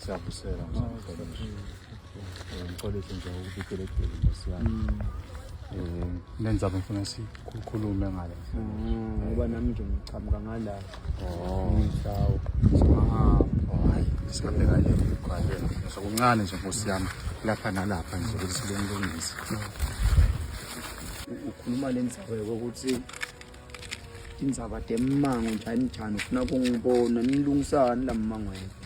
siyabusela ngixolise nje ukubikelegile nkosi yami um lenza bengifuna sikhulume ngale ngoba nami nje ngichamuka ngalapha Sokuncane nje nkosi yami lapha nalapha nje ukuthi sikulungise. Ukhuluma le ndzaba yokuthi indzaba demango njani njani ufuna kungibona nilungisani lamangweni.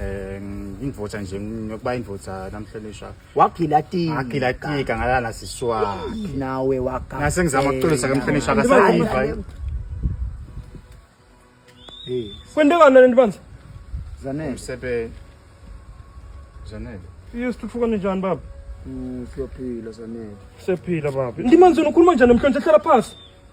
eh indvodza nje ngokuba indvodza namhlonishwa wagilatika wagilatika ngalala siswa nawe waka ngase ngizama ukuxolisa kamhlonishwa akasayiva hey kwendekana nani bandla zanele umsebenzi zanele iyo sithuthuka njani baba mm, siyophila zanele siyaphila baba ndimanzini ukhuluma njani namhlanje hlala phasi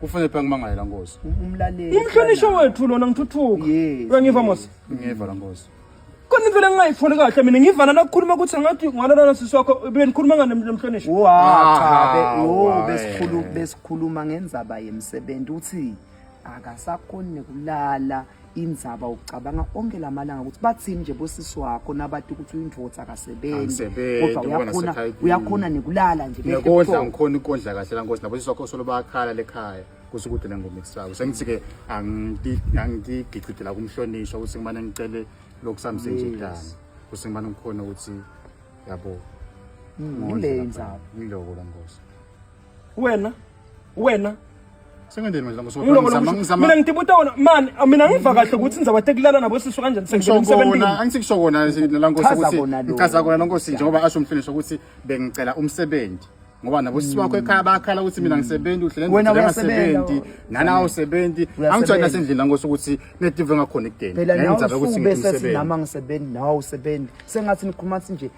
kufanele phela ngimangale la nkosi umlaleli umhlonishwa wethu lona ngithuthuka Yes, uyangiva mos ngiva la nkosi kona indlela engingayitholi kahle mina ngiva nana kukhuluma ukuthi ngathi ngwalalana sisi wakho benikhuluma ngani mhlonishwa Wa, Ah, cha, be- wo, wae. besikhulu- besikhuluma ngenzaba yemsebenzi uthi akasakhoni nekulala indzaba ucabanga onke lamalanga ukuthi bathini nje bosisi wakho nabati ukuthi uyindvodza akasebenzi kodwa uyakhona uyakhona nekulala nje nekondla ngikhona ikondla kahle la nkosi nabosisi wakho solo bayakhala lekhaya kusukudela ngoma ekusako sengithi ke angigigidela kumhlonishwa ukuthi ngimane ngicele lokusamse nje dana ukuthi ngimane ngikhona ukuthi yabo mm, ngile indzaba ngiloko la nkosi wena wena mina ngitibuta wona mani mina ngiva kahle ukuthi ngizawa tekulala nabo sisu kanjani sengisebenangisekusho kona lankosi ukuthi ngichaza kona lankosi njengoba asho umfiniso ukuthi bengicela umsebenzi ngoba nabo sisi wakho ekhaya bakhala ukuthi mina ngisebenzi uhlele wena uyasebenzi nana awusebenzi angitshela nasendlini langosi ukuthi netive ngakhona ekudeni phela nawe usuke bese sinama ngisebenzi nawe usebenzi sengathi nikhuluma nje